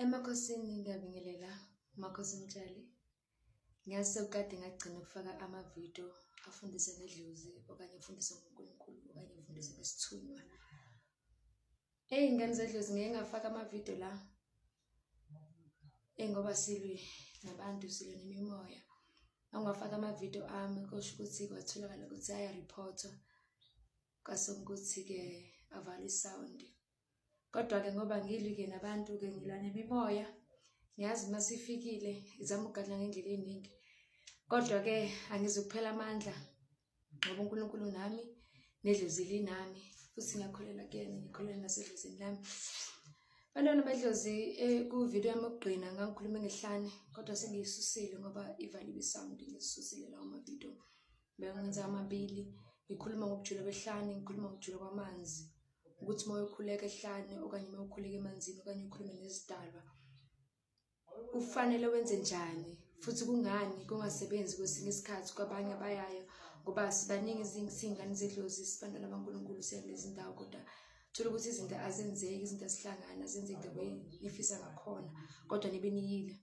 Emakhosini ngiyabingelela Makhosi Mtshali. Ngiyazi sekukade ngagcina ukufaka amavidiyo afundisa ngedlozi okanye afundisa ngoNkulunkulu okanye afundisa ngesithunywa. Eyi ngane zedlozi ngeke ngafaka amavidiyo la. Eyi ngoba silwe nabantu silwe nemimoya. Angwafaka amavidiyo ami kusho ukuthi kwatholakala ukuthi ayariphothwa kwase ukuthi-ke avalwe isawundi. Kodwa-ke ngoba ngilwi-ke nabantu-ke ngilwa nemimoya ngiyazi uma sifikile izama ukugadla ngendlela eningi kodwa-ke angizukuphela amandla ngoba unkulunkulu nami nedlozi linami futhi ngiyakholelwa kuyena ngikholelwa nasedlozini lami bantwana bedlozi eh, kuvidiyo yami yokugqina ngangikhuluma ngehlane kodwa sengiyisusile ngoba ivaliwe isound ngizisusile lawo mavidiyo bengenza amabili ngikhuluma ngokujula kwehlane ngikhuluma ngokujula kwamanzi ukuthi uma uyokhuleka ehlane okanye uma ukhuleka emanzini okanye ukhulume nezidalwa ufanele wenze njani futhi kungani kungasebenzi kwesinye isikhathi kwabanye abayayo ngoba sibaningi siyingane zedlozi sibantwana bankulunkulu siya kulezi ndawo kodwa thola ukuthi izinto azenzeki izinto azihlangani azenzeki the way nifisa ngakhona kodwa nibe niyile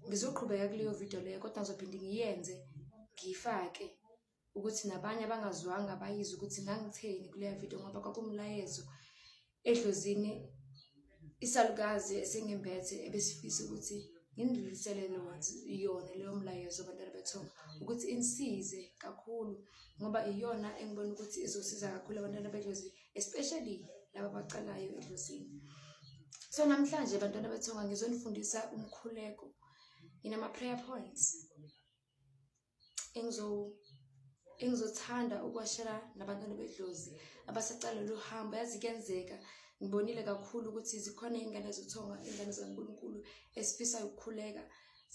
ngizoqhubeka kuleyo video leyo kodwa ngizophinde ngiyenze ngiyifake ukuthi nabanye abangazwanga bayize ukuthi ngangitheni kuleya video ngoba kwakumlayezo edlozini isalukazi esengimbethe ebesifisa ukuthi ngindlulisele yona leyo mlayezo abantwana bethonga ukuthi insize kakhulu ngoba iyona engibona ukuthi izosiza kakhulu abantwana bedlozi especially laba abacalayo edlozini so namhlanje bantwana bethonga ngizonifundisa umkhuleko nginama-prayer points engizo engizothanda ukuwashela nabantwana bedlozi abasaqala lo hambo yazi kuyenzeka ngibonile kakhulu ukuthi zikhona iy'ngane zothonga iy'ngane zikankulunkulu esifisa ukukhuleka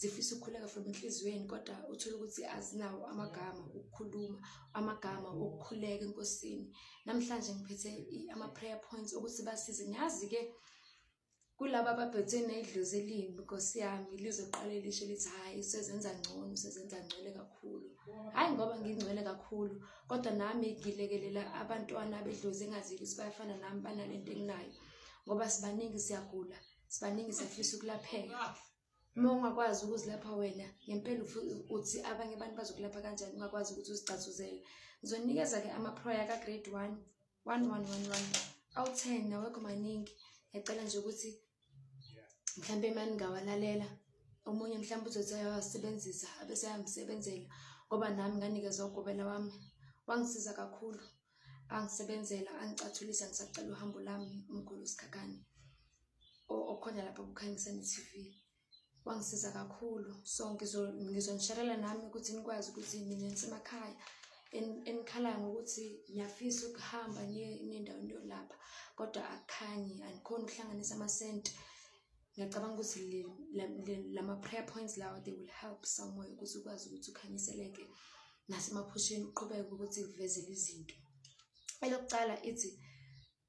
zifisa ukukhuleka from enhliziyweni kodwa uthole ukuthi azinawo amagama okukhuluma amagama okukhuleka enkosini namhlanje ngiphethe ama-prayer points ukuthi basize ngiyazi-ke kulaba abaphethwe nedlozi elimbi nkosi yami lizoqale lisho lithi hhayi usezenza ngcono usezenza ngcwele kakhulu hhayi ngoba ngingcwele kakhulu kodwa nami ngilekelela abantwana bedlozi engazile ukuthi bayafana nami banale nto enginayo ngoba sibaningi siyagula sibaningi siyafisa ukulapheka uma ungakwazi ukuzilapha wena ngempela uthi abanye abantu bazokulapha kanjani ungakwazi ukuthi uzigcazuzele ngizonikeza-ke amaproya ka-grade one one one one one awu-ten nawekho maningi ngiyacela nje ukuthi mhlawumbe mani ngingawalalela omunye mhlawumbe uzothi ayawasebenzisa abese ayamsebenzela ngoba nami nganikezwa ugobela wami wangisiza kakhulu angisebenzela angicathulisa ngisacela uhambo lami umkhulu sikhakhane okhona lapha kukhanyisa ne-tv wangisiza kakhulu so ngizonishalela nami ukuthi nikwazi ukuthi mina nisemakhaya enikhalaya ngokuthi ngiyafisa ukuhamba ngiye endaweni yolapha kodwa akukhanyi andikhoni ukuhlanganisa amasenti ngiyacabanga ukuthi lama-prayer points lawa they will help someway ukuthi ukwazi ukuthi ukhanyiseleke nasemaphusheni uqhubeke ukuthi kuvezele izinto elokuqala ithi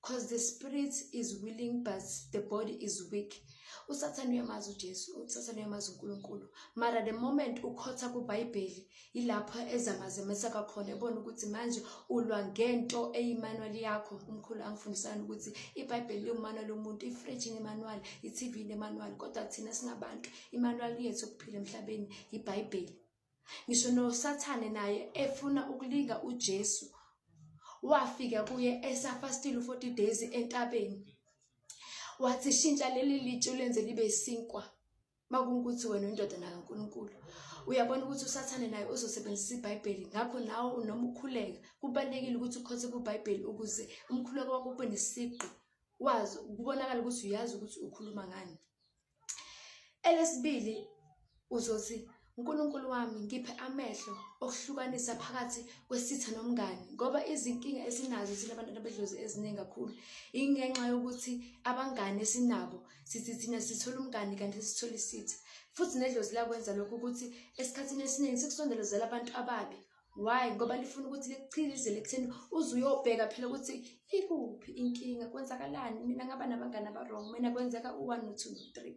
because the spirit is willing but the body is weak usathane uyamazi ujesu usathane uyamazi unkulunkulu mara the moment ukhotha kubhayibheli yilapho ezamazemesa kakhona ebona ukuthi manje ulwa ngento eyimanuwali yakho umkhulu angifundisana ukuthi ibhayibheli liwumanuwali omuntu ifriji nemanuwali i-tv nemanuwali kodwa thina singabantu imanuwali yethu okuphila emhlabeni yibhayibheli ngisho nosathane naye efuna ukulinga uJesu wafika kuye esafastile u-40 days entabeni wathi shintsha leli litshe ulenze libe sinkwa makungukuthi wena uyindodana kaNkulunkulu uyabona ukuthi usathane naye uzosebenzisa ibhayibheli ngakho nawe noma ukhuleka kubalulekile ukuthi ukhothe kubhayibheli ukuze umkhuleko wakho ube nesiqu wazi kubonakala ukuthi uyazi ukuthi ukhuluma ngani Elesibili uzothi uNkulunkulu wami ngiphe amehlo okuhlukanisa phakathi kwesitha nomngani ngoba izinkinga esinazo thina abantu abedlozi eziningi kakhulu ingenxa yokuthi abangani esinabo sithi thina sithola umngani kanti sithole isitha futhi nedlozi lakwenza lokhu ukuthi esikhathini esiningi sikusondelezela abantu ababi why ngoba lifuna ukuthi likuchilizele ekutheni uze uyobheka phela ukuthi ikuphi inkinga kwenzakalani mina ngaba nabangani abarong mina kwenzeka u-one no-two no-three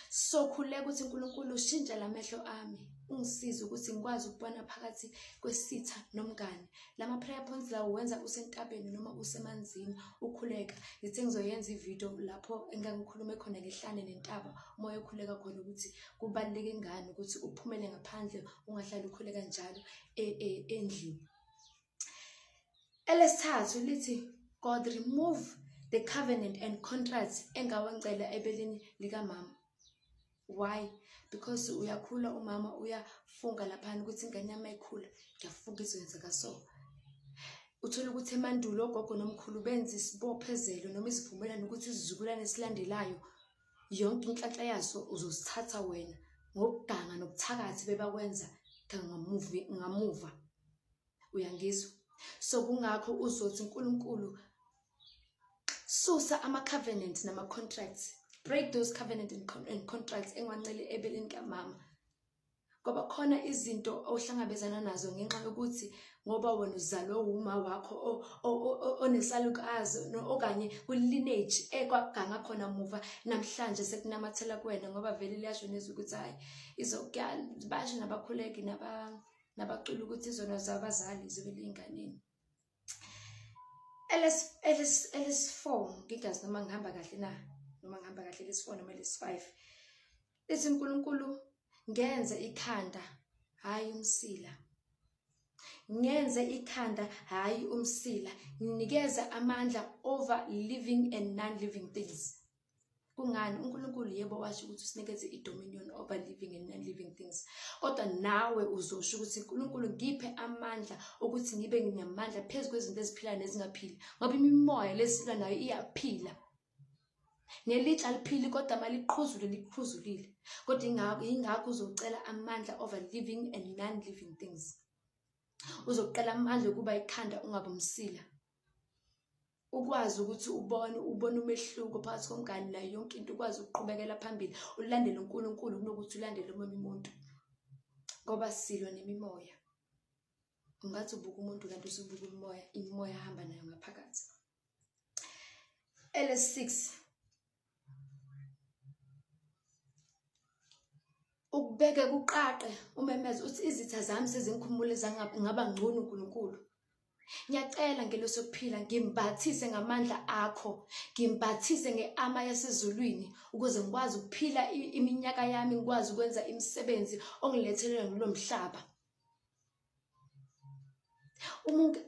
so khuleka ukuthi unkulunkulu ushintshe la mehlo ami ungisize ukuthi ngikwazi ukubona phakathi kwesitha nomngane lama prayer points lawo wenza usentabeni noma usemanzini ukhuleka ngithe ngizoyenza ivideo lapho engangikhulume khona ngehlane nentaba umoya okhuleka khona ukuthi kubaluleke ngani ukuthi uphumele ngaphandle ungahlali ukhule kanjalo e, e, endlini elesithathu lithi god remove the covenant and contracts engawangcela ebeleni likamama why because uyakhula umama uyafunga laphana ukuthi ingane yami ayikhula ngiyafunga izoyenzeka so uthole ukuthi emandulo ogogo nomkhulu benza isibophezelo noma isivumelwano ukuthi isizukulwane esilandelayo yonke inhlanhla yaso uzosithatha wena ngokuganga nobuthakathi bebakwenza ngamuva uyangizwa so kungakho uzothi uNkulunkulu susa ama covenant nama contracts break those covenant and contracts engwancele ebeleni kamama ngoba khona izinto ohlangabezana nazo ngenxa yokuthi ngoba wena uzalwe wuma wakho onesalukazi okanye kwi-lineage ekwaganga khona muva namhlanje sekunamathela kuwena ngoba vele liyasho nezwi ukuthi hhayi basho nabakhuleki nabacula ukuthi izona zabazali zibe liyinganeni LS LS LS4 ngingazi noma ngihamba kahle na noma ngihamba kahle LS4 noma LS5 lithi uNkulunkulu ngenze ikhanda hayi umsila ngenze ikhanda hayi umsila nginikeze amandla over living and non living things Kungani? UNkulunkulu yebo washo ukuthi usinikeze i-dominion over living and non-living things. Kodwa nawe uzosho ukuthi uNkulunkulu ngiphe amandla ukuthi ngibe nginamandla phezu kwezinto eziphilayo nezingaphili. Ngoba imimoya lesilwa nayo iyaphila. Nelitsha liphili kodwa maliqhuzule liqhuzulile. Kodwa ingakho ingakho uzocela amandla over living and non-living things. Uzoqela amandla okuba ikhanda ungabumsila. ukwazi ukuthi ubone ubone umehluko phakathi komngani nayo yonke into ukwazi ukuqhubekela phambili ulandele uNkulunkulu kunokuthi ulandele omunye umuntu ngoba silo nemimoya ungathi ubuka umuntu kanti usubuka umoya imoya ahamba nayo ngaphakathi ele6 ukubeke kuqaqe umemeze uthi izitha zami sezingikhumule zangaba ngcono uNkulunkulu ngiyacela ngeloso kuphila ngimbathise ngamandla akho ngimbathise ngeama yasezulwini ukuze ngikwazi ukuphila iminyaka yami ngikwazi ukwenza imisebenzi ongilethelele kulo mhlaba umuntu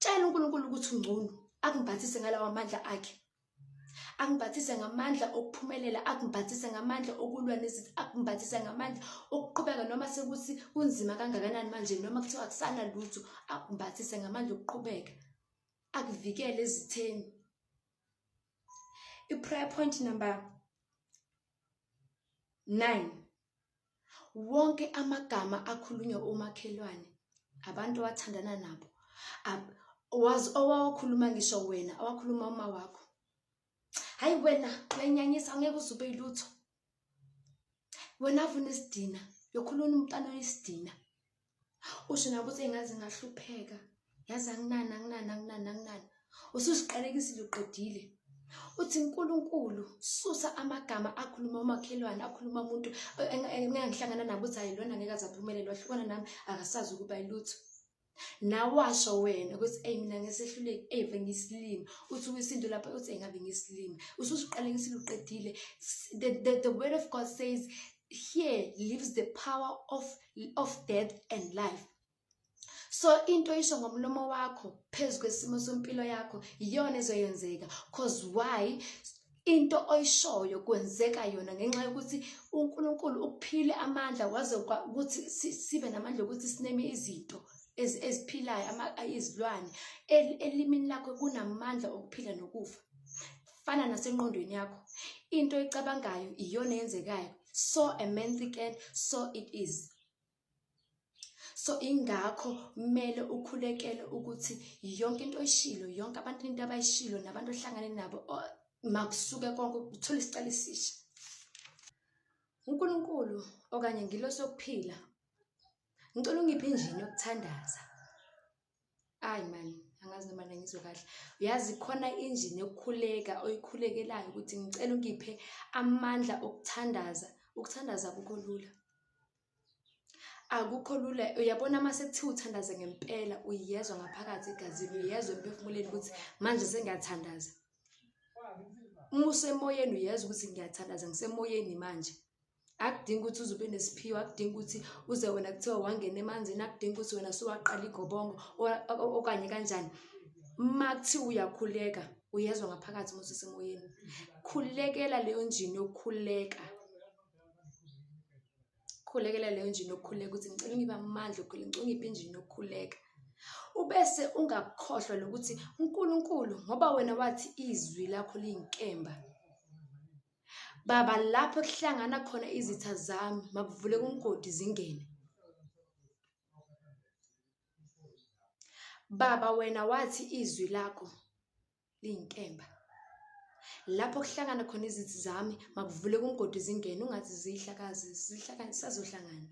tshela uNkulunkulu ukuthi ungcono akumbathise ngalawa amandla akhe angibhathise ngamandla okuphumelela akubhathise ngamandla okulwa nezithi akubhathise ngamandla okuqhubeka noma sekuthi kunzima kangakanani manje noma kuthiwa akusana lutho akubhathise ngamandla okuqhubeka akuvikele ezitheni i-prayer point number nine wonke amagama akhulunywa omakhelwane abantu owathandana nabo wazi owawakhuluma ngisho wena awakhuluma uma wakho hayi wena uyenyanyisa ngeke uzube ilutho wena avuna isidina yokhuluna umntana oyisidina usho nakuthi engaze ngahlupheka yazi anginani anginani anginani anginani ususiqalekisile uqedile uthi nkulunkulu susa amagama akhuluma umakhelwane akhuluma umuntu engangihlangana nabo uthi hayi lona ngeke azaphumelelwa hlukana nami akasazi ukuba ilutho nawasho wena ukuthi eyi mina ngesehluleki eve ngisilimi uthi kwisintu lapho uthi engabe ngisilimi ususiqalekisile uqedile the, the, the word of god says here lives the power of, of death and life so into isho ngomlomo wakho phezu kwesimo sempilo yakho iyona ezoyenzeka cause why into oyishoyo kwenzeka yona ngenxa yokuthi uNkulunkulu ukuphile amandla waze ukuthi sibe namandla ukuthi sineme izinto eziphilayo izilwane elimini lakho kunamandla okuphila nokufa fana nasenqondweni yakho into oyicabangayo iyona eyenzekayo so a man thicken so it is so ingakho kumele ukhulekele ukuthi yonke into oyishilo yonke abantu into abayishilo nabantu ohlangane nabo makusuke konke uthole isicelo esisha uNkulunkulu okanye ngilo sokuphila ngicela ungiphe injini yokuthandaza Ayi mani, angazi noma mina ngizwe kahle. Uyazi khona injini yokukhuleka oyikhulekelayo ukuthi ngicela ungiphe amandla okuthandaza. Ukuthandaza akukho lula. Akukho lula. Uyabona uma sekuthiwa uthandaze ngempela, uyezwa ngaphakathi egazini, uyezwa emphefumulweni ukuthi manje sengiyathandaza. Uma usemoyeni uyezwa ukuthi ngiyathandaza, ngisemoyeni manje. akudingi ukuthi uze ube nesiphiwo akudingi ukuthi uze wena kuthiwa wangena emanzini akudingi ukuthi wena suwaqala igobongo okanye kanjani uma kuthiwa uyakhuleka uyezwa ngaphakathi uma usesemoyeni khulekela leyo njini yokukhuleka khulekela leyo njini yokukhuleka ukuthi ngicela ungibe amandla okhule ngicela ungiphe injini yokukhuleka ubese ungakhohlwa lokuthi uNkulunkulu ngoba wena wathi izwi lakho liyinkemba Baba, lapho kuhlangana khona izitha zami, makuvuleke umgodi zingene. Baba, wena wathi izwi lakho liyinkemba. Lapho kuhlangana khona izithi zami, makuvuleke umgodi zingene, ungathi ziyihlakazi, zihlakani, sazohlangana.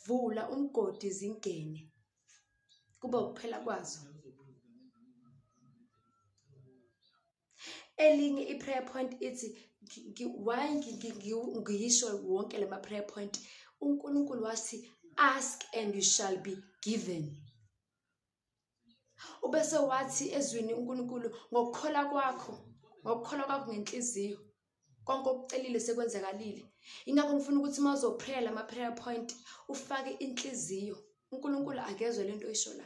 Vula umgodi zingene, kube ukuphela kwazo. elinye i-prayer point ithi why ngiyisho wonke la ma-prayer point unkulunkulu wathi ask and you shall be given ubese wathi ezwini unkulunkulu ngokukhola kwakho ngokukhola kwakho ngenhliziyo konke okucelile sekwenzakalile ingakho ngifuna ukuthi uma uzoprayer lama-prayer point ufake inhliziyo unkulunkulu akezwe le nto oyisho la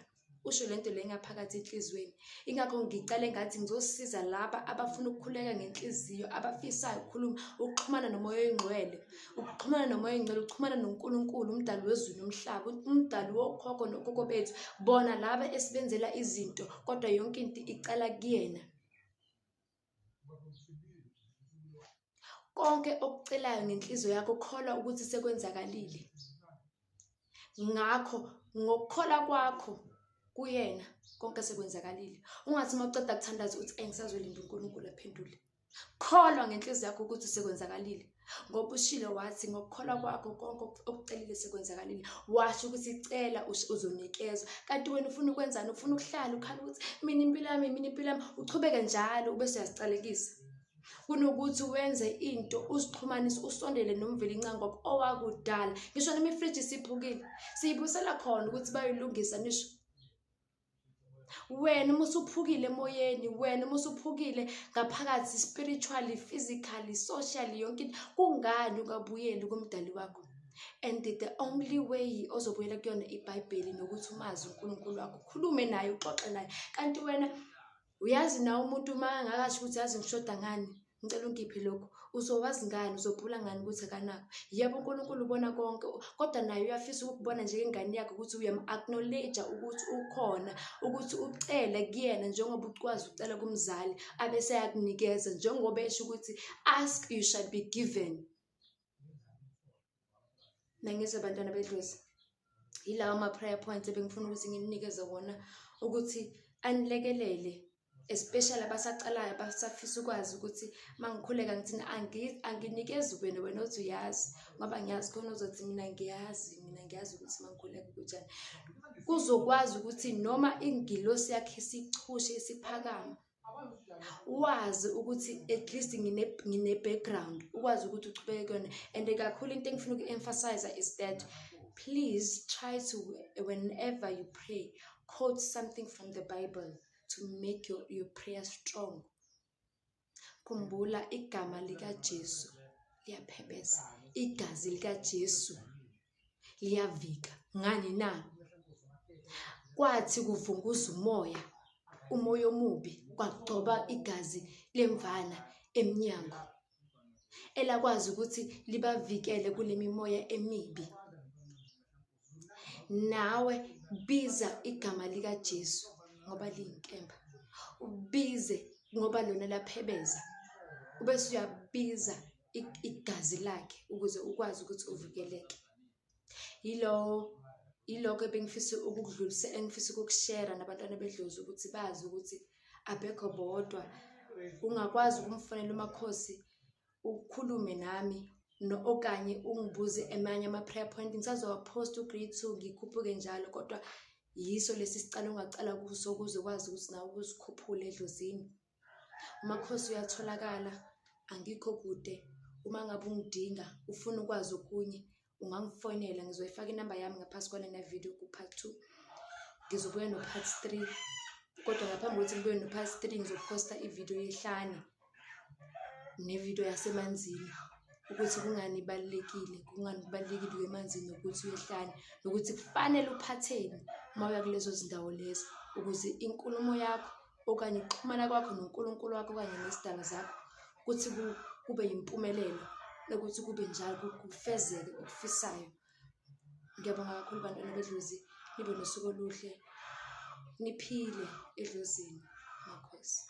usho le nto le ngaphakathi enhliziyweni ingakho ngicale ngathi ngizosiza laba abafuna ukukhuleka ngenhliziyo abafisayo ukukhuluma ukuxhumana nomoya oyingcwele ukuxhumana nomoya oyingcwele ukuxhumana nonkulunkulu umdali wezulu nomhlaba umdali wokhokho nokhokho bethu bona laba esibenzela izinto kodwa yonke into icala kuyena konke okucelayo ngenhliziyo yakho kholwa ukuthi sekwenzakalile ngakho ngokukhola kwakho kuyena konke sekwenzakalile ungathi uma uceda kuthandaza uthi engisazolinda unkulunkulu aphendule kholwa ngenhliziyo yakho ukuthi sekwenzakalile ngoba ushilo wathi ngokukholwa kwakho konke okucelile sekwenzakalile washo ukuthi cela uzonikezwa kanti wena ufuna ukwenzani ufuna ukuhlala ukhala ukuthi mina impilo yami mina impilo yami uchubeke njalo ube suyazicalekisa kunokuthi wenze into uzixhumanise usondele nomveli incangoba owakudala ngisho noma ifriji siphukile siyibusela khona ukuthi bayolungisa nisho wena uma usuphukile emoyeni wena uma usuphukile ngaphakathi spiritually physically socially yonke into kungani ungabuyeli kumdali wakho and the only way ozobuyela kuyona ibhayibheli nokuthi umazi unkulunkulu wakho ukhulume naye uxoxe naye kanti wena uyazi na umuntu uma angakasho ukuthi yazi ngishoda ngani ngicela ungiphe lokhu uzowazi ngani uzobhula ngani ukuthi akanako yebo unkulunkulu ubona konke kodwa naye uyafisa ukukubona njengengane yakhe ukuthi uyam-acknowledge-a ukuthi ukhona ukuthi ucele kuyena njengoba ukwazi ukucela kumzali abese yakunikeza njengoba esho ukuthi ask you shall be given nangizwe bantwana bedlozi yilawa ama-prayer points ebengifuna ukuthi ngininikeze wona ukuthi anilekelele especially abasaqalayo abasafisa ukwazi ukuthi uma ngikhuleka ngithina anginikezi wena wena othi uyazi ngoba ngiyazi khona uzothi mina ngiyazi mina ngiyazi ukuthi uma ngikhuleka kunjani kuzokwazi ukuthi noma ingilosi yakhe isichushe isiphakama wazi ukuthi at least ngine-background ukwazi ukuthi uchubeke kuyona and kakhulu into engifuna uku-emphasize is that please try to whenever you pray quote something from the bible to make your, your prayer strong khumbula igama likajesu liyaphebeza igazi likajesu liyavika ngani na kwathi kuvunguza umoya umoya omubi kwagcoba igazi lemvana emnyango elakwazi ukuthi libavikele kule mimoya emibi nawe biza igama likaJesu ngoba liyinkemba ubize ngoba lona laphebeza ubese uyabiza igazi lakhe ukuze ukwazi ukuthi uvikeleke yilowo yilokho ebengifisa ukukudlulisa engifisa ukukushera nabantwana bedlozi ukuthi bazi ukuthi abekho bodwa ungakwazi ukumfonela umakhosi ukhulume nami no okanye ungibuze emanye ama-prayer point ngisazowaphosta ugrade two ngikhuphuke njalo kodwa yiso lesi sicala ungacala kuso ukuze ukwazi ukuthi nawe ukuzikhuphule edlozini Makhosi uyatholakala, angikho kude. Uma ngabe ungidinga, ufuna ukwazi okunye, ungangifonela. Ngizoyifaka inamba yami ngaphansi kwalena video ku-part two. Ngizobuya no-part three. Kodwa ngaphambi kokuthi ngibuye no-part three, ngizophosta ividiyo yehlane nevidiyo yasemanzini ukuthi kungani ibalulekile, kungani kubalulekile ukuya emanzini nokuthi uyehlane, nokuthi kufanele uphatheni uma uya kulezo zindawo lezo ukuze inkulumo yakho okanye ukuxhumana kwakho noNkulunkulu wakho okanye nezidalwa zakho ukuthi kube yimpumelelo nokuthi kube njalo kufezeke okufisayo ngiyabonga kakhulu bantwana bedlozi nibe nosuku oluhle niphile edlozini makhosi